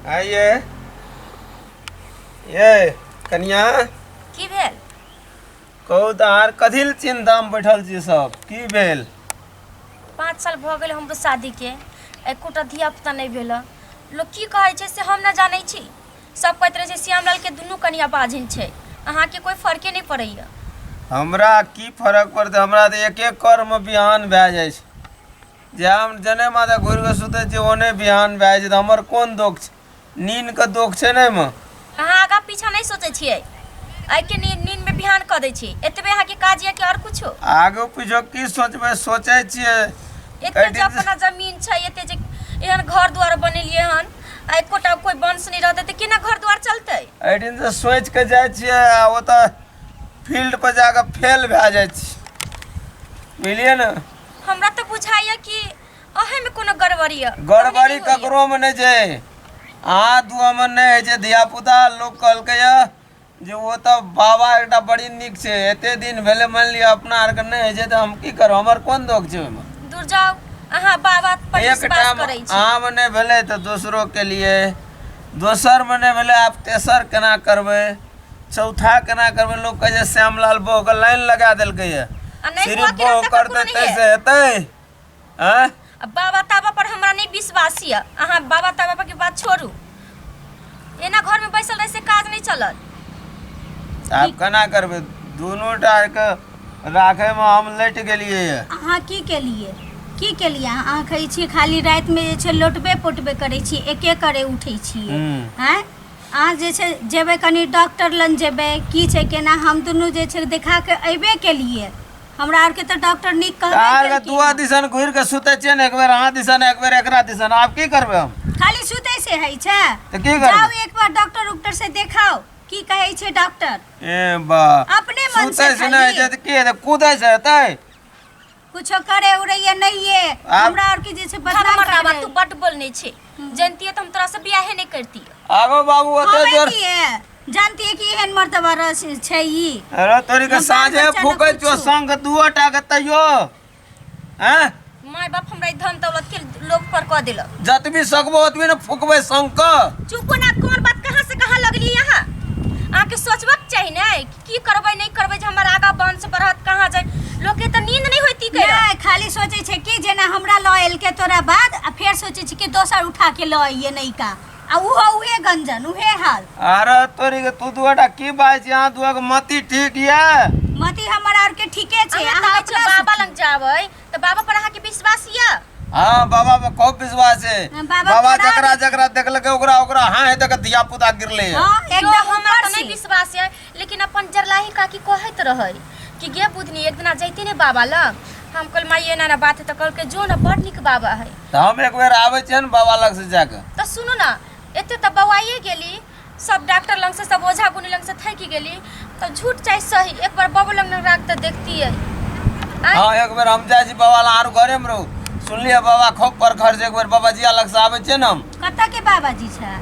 आइए ये कनिया की भेल कहू तऽ अहाँ कथी लए चिन्तामे बैठल छी सब की भेल पाँच साल भऽ गेल हमरो शादीके एकोटा धियापुता नहि भेल हँ। लोक की कहै छै से हम नहि जानै छी सब कहैत रहै छै श्यामलालके दुनू कनिया बाजिन छै अहाँके कोइ फर्के नहि पड़ैए हमरा की फर्क पड़तै हमरा तऽ एक एक कर्म बिहान भए जाइ छै जे हम जने माथे घुरि कऽ सुतै छी ओने बिहान भए जाइ छै हमर कोन दोख छै नीनके दोख छै ने एहिमे अहाँ आगा पीछा नहि सोचै छियै एहिके नीन नीनमे बिहान कऽ दै छी एतबे अहाँके काज यऽ कि आओर किछो आगू पीछो की सोचबै सोचै छियै एते जे अपना जमीन छै एते जे एहन घर दुआर बनेलियै हन आ एकोटा कोई वंश नहि रहतै तऽ केना घर दुआर चलतै एहि दिन से सोचि कऽ जाइ छियै आ ओतऽ फील्ड पर जाकऽ फेल भए जाइ छी बुझलियै ने हमरा तऽ बुझाइए कि अहेमे कोनो गड़बड़ी यऽ गड़बड़ी ककरोमे नहि छै अहाँ दुआमे नहि होइ छै धियापुता लोक कहलकै यऽ जे ओ तऽ बाबा एकटा बड़ी नीक छै एते दिन भेलै मानि लिअ अपना आरके नहि होइ छै तऽ हम की करब हमर कोन दोष छै ओहिमे दूर जाउ अहाँ बाबा पर एक विश्वास टाइम करै छी आम नहि भेलै तऽ दोसरोके लिए दोसरमे नहि भेलै आब तेसर केना करबै चौथा केना करबै लोक कहै छै श्यामलाल बहके लाइन लगा देलकै यऽ आ नहि सिर्फ हुआ कि बह हमरा सबके करतै कोनो नहि तैसे यऽ। हेतै आँय आ बाबा ताबा पर हमरा नहि विश्वास यऽ अहाँ बाबा ताबा पर के बात छोड़ू एना घर में बैसल रहे से काज नहीं चलत आब केना करबै दुनू टा के राखैमे हम लटि गेलियै यऽ अहाँ की केलिए की केलिए अहाँ अहाँ कहै छियै खाली रातिमे जे छै लोटबे पोटबे करै छी एके करे उठै छियै हूँ। आँय अहाँ जे छै जेबय कनि डॉक्टर लग जेबय की छै केना हम दुनू जे छै देखा कऽ अयबे केलियै हमरा आरके तऽ डॉक्टर नीक कहबे आर केलखिन दुआ हँ। दिसन घुरि कऽ सुतै छियै ने एक बेर अहाँ दिसन एक बेर एकरा दिसन आब की करबै हम खाली सुतै से होइ छै तऽ की करबै? जाउ एक बार डॉक्टर उक्टर से देखाउ की कहै छै डॉक्टर ए बा अपने मन से सुतै से नहि खाली। हेतै तऽ की हेतै कूदै से हेतै कुछो करे उड़ैया नहीं ये आब- हमरा और की जे छै बदनाम हमर बाबा करबै। तू बड बोल नहीं छे जानती है तो हम तोरा से बियाह नहीं करती आगो बाबू ओते हमे जोर की है जानती है कि एहन मर्दबा रस छै ई अरे तोरी के हम साँझे बाल बच्चा फूकै नहि छो कुछो। संग दुओ टा के तैयो हैं माय बाप हमरा ई धन दौलत के लोभ पर कह दिलक जतबी सकबो ओतबी ने फूकबै संग के चुप ना कौन बात कहाँ से कहाँ लगली यहाँ आके सोचबक चाही ना कि की करबै नहि करबै जे हमर आगा वंश बढ़त कहाँ जाय लोकके तऽ नींद नहि होइती कहि नहि खाली सोचै छै कि जेना हमरा लऽ एलकै तोरा बाद आ फेर सोचै छै कि दोसर उठा के लऽ अइए नैका आ उहो उहे गंजन उहे हाल अरे तोरी के तू दुआटा की बाजै छी अहाँ दुआ के मति ठीक ये मति हमर आर के ठीके छै हमे अहाँ कहै छियै अपना बाबा लग जाबै तऽ बाबा पर अहाँके विश्वास यऽ हाँ बाबा पर खूब विश्वास है हाँ, बाबा बाबा थोड़ा जकरा भी- जकरा देखलकै ओकरा ओकरा हाँ है देख धिया पुता गिरले है हाँ, एकदम एकदम हमरा ऊपर तऽ नहि छी। विश्वास यऽ लेकिन अपन जरलाही काकी कहैत रहै कि गे बुधनी एक दिना जैती ने बाबा लग हम कहल माई एना ना बात है तऽ कहलकै जो ना बड़ नीक बाबा है तऽ हम एक बेर आबै छियै ने बाबा लग से जाके तऽ सुनू ना एते तऽ बौआइए गेली सब डॉक्टर लंग से सब ओझा गुनी लंग से थैकि गेली तो झूठ चाहे सही एक बार बाबू लंग न राख तो देखती है हाँ एक बेर हम जाइ छी बाबा लग आरो घरे में रहू सुनलियै बाबा खोप पर घर से एक बेर बाबा जिया लग से आबै छियै ने हम कतऽ के बाबा जी छै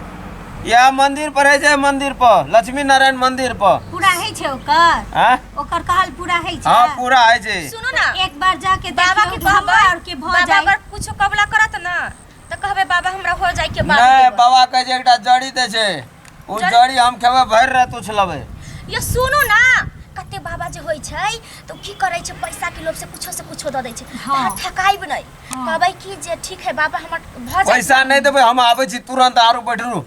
इएह मंदिर पर है छै मंदिर पर लक्ष्मी नारायण मंदिर पर पूरा है छै ओकर हाँ ओकर कहल पूरा है छै हाँ पूरा है छै सुनो ना एक बार जाके बाबा के देखियौ, कहबै हमरा आर के भऽ बाबा जाए अगर कुछ कबला करत ना तऽ कहबै बाबा हमरा हो जाय के बाद नहि बाबा कहै छै एकटा जड़ी दै छै ओ जड़ी- जड़ी हम खेबै भरि राति उछलबै ये सुनू ना कते बाबा जे होइ छै तऽ की करै छै पैसा के लोभ से कुछो से कुछो दऽ दै छै हाँ। अहाँ ठकाइब नहि कहबै कि जे ठीक है बाबा हमर भऽ जाय पैसा नहि देबै हम आबै छी तुरंत आरो बैठरू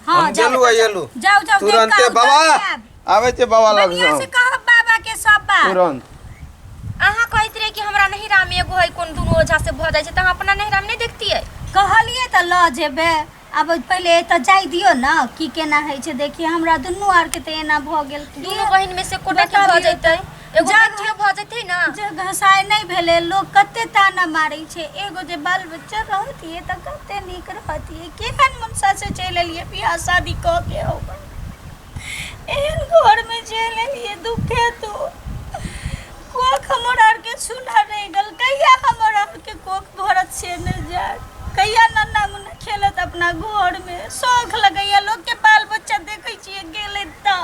हाँ, हम जाओ, गेलू आ जाओ। एलू जाओ, जाओ, देख तुरंते कहाँ बाबा उतर जाएब। आवे छे बाबा लग बढ़िया से से कहब बाबा के सब बात तुरंत अहाँ कहैत रहे कि हमरा नहीं राम एगो है कोन दुनू ओझा से भऽ जाइ छै तऽ अहाँ अपना नहीं राम नहीं देखतियै कहलिए तऽ लऽ जेबै आब पहिले एतऽ जाय दियो ने की केना होइ छै देखिए हमरा दुनू आर के तऽ एना भऽ गेल की दुनू बहिन में से कोटा के भऽ बताबियौ जैतै एगो जा- बेटियो भऽ जेतै ने जे घसाय नहि भेलै लोक कते ताना मारै छै एगो जे बाल बच्चा रहतियै तऽ कते नीक रहतियै केहन मनसा से चलि एलियै बियाह शादी कऽ के हो एहन घरमे चलि एलियै दुखे तो कोख हमर आरके सुना रहि गेल कहिया हमर आरके कोख भरत से नहि जाय कहिया नन्ना मुन्ना खेलत अपना घरमे शौख लगैया लोकके बाल बच्चा देखै छियै गेलै तऽ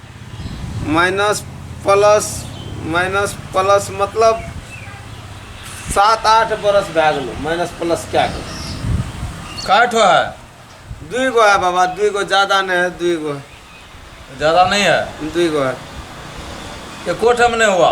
माइनस प्लस माइनस प्लस मतलब सात आठ बरस भए गेलो माइनस प्लस कए गेलो काय ठो है दुई गो है बाबा दुई गो ज्यादा नहीं है दुई गो ज्यादा नहीं है दुई गो है एको ठम नहीं हुआ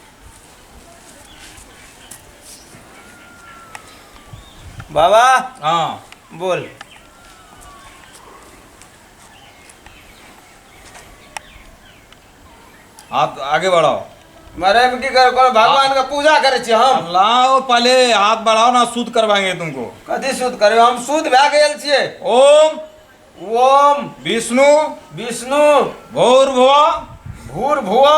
बाबा हाँ बोल आप आगे बढ़ो मरे में की कर कर भगवान का पूजा करे छी हम लाओ पहले हाथ बढ़ाओ ना सूद करवाएंगे तुमको कथी सूद करे हम सूद भए गेल छिए ओम ओम विष्णु विष्णु भोर भुआ भूर भुआ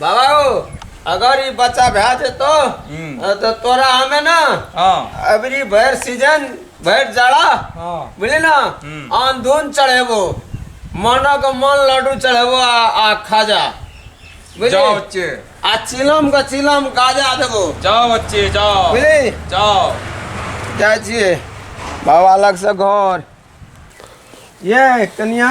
बाबा हो अगर ई बच्चा भए जेतो हम्म। तऽ तोरा हमे ना हाँ अबरी भरि सीजन भरि जाड़ा हाँ बुझली ना हम्म। आन धुन चढ़ेबो मानो के मन लड्डू चढ़ेबो आ, आ खाजा बुझली जाओ बच्चे आ चिलम के चिलम गाजा देबो जाओ बच्चे जाओ बुझली जाओ जाइ छियै बाबा लग से घर ये कनिया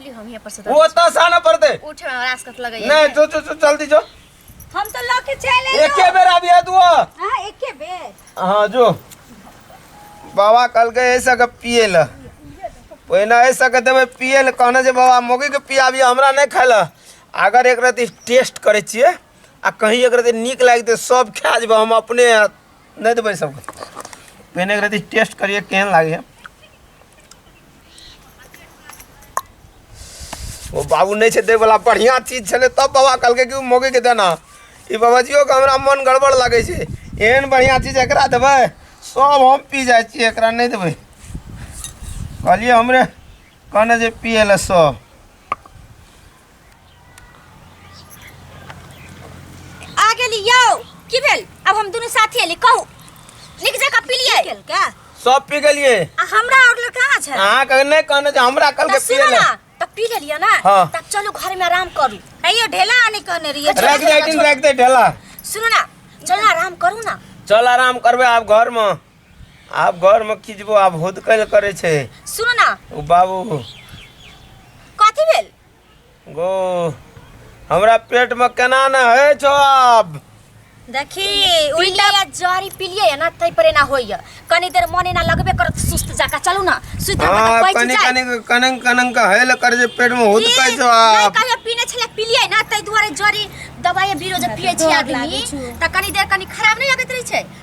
ली हम यहाँ पर से वो तो आसान है पड़ते उठे में हमरा आसकत लगे नहीं जो जो जो जल्दी जो हम तो लौके चले एक के बेर अभी है तू हां एक के बेर हां जो बाबा कल के ऐसा के पिए ल पहिना ऐसा के देबे पिए ल कहना जे बाबा मोगी के पिया अभी हमरा नहीं खाला अगर एक रात टेस्ट करे छिए आ कहीं एक रात नीक लाग दे सब खा जेबे हम अपने दे देबै सबके पहिने एकरा दिस टेस्ट करिए केहन लागैए ओ बाबू नहि छै दैवला बढ़िआँ चीज छलै तब बाबा कहलकै कि ओ मौगीके देना ई बाबाजियोके हमरा मन गड़बड़ लागै छै एहन बढ़िआँ चीज एकरा देबै सब हम पी जाइ छियै एकरा नहि देबै कहलियै हमरे कहने जे पिए लए सब आ गेली यौ की भेल अब हम दोनों साथी एली कहू नीक जकाँ पिलियै गेल का सब पी गेलिए आ हमरा और लड़ कहाँ छै अहाँ के नहीं कहने जे हमरा कल के त पिए सुनो ले ना त पी लेलियै ना हाँ। तब चलू घर में आराम करू अयो ढेला आने कहने रहिए रख दे दिन रख दे ढेला सुनो ना चल ना आराम करू ना चल आराम करबे आप घर में आब घरमे की जेबो आब हुदकै लए करै छै सुनू ने ओ बाबू कथी भेल गो हमरा पेटमे केना ने होइ छौ आब देखी उल्टा या जरी पिलिए है ना तै पर ना होइए कनी देर मन ना लगबे करत सुस्त जाका चलू ना सुत हम हाँ, पैच कनी जाए कनी कनंग कनंग का हेल कर जे पेट में हुद कै छौ नहीं आब कहियो पीने छले पिलिए ना तै दुआरे जरी दवाई बीरो जे पिए छी आदमी त कनी देर कनी खराब नहीं लगत रही छै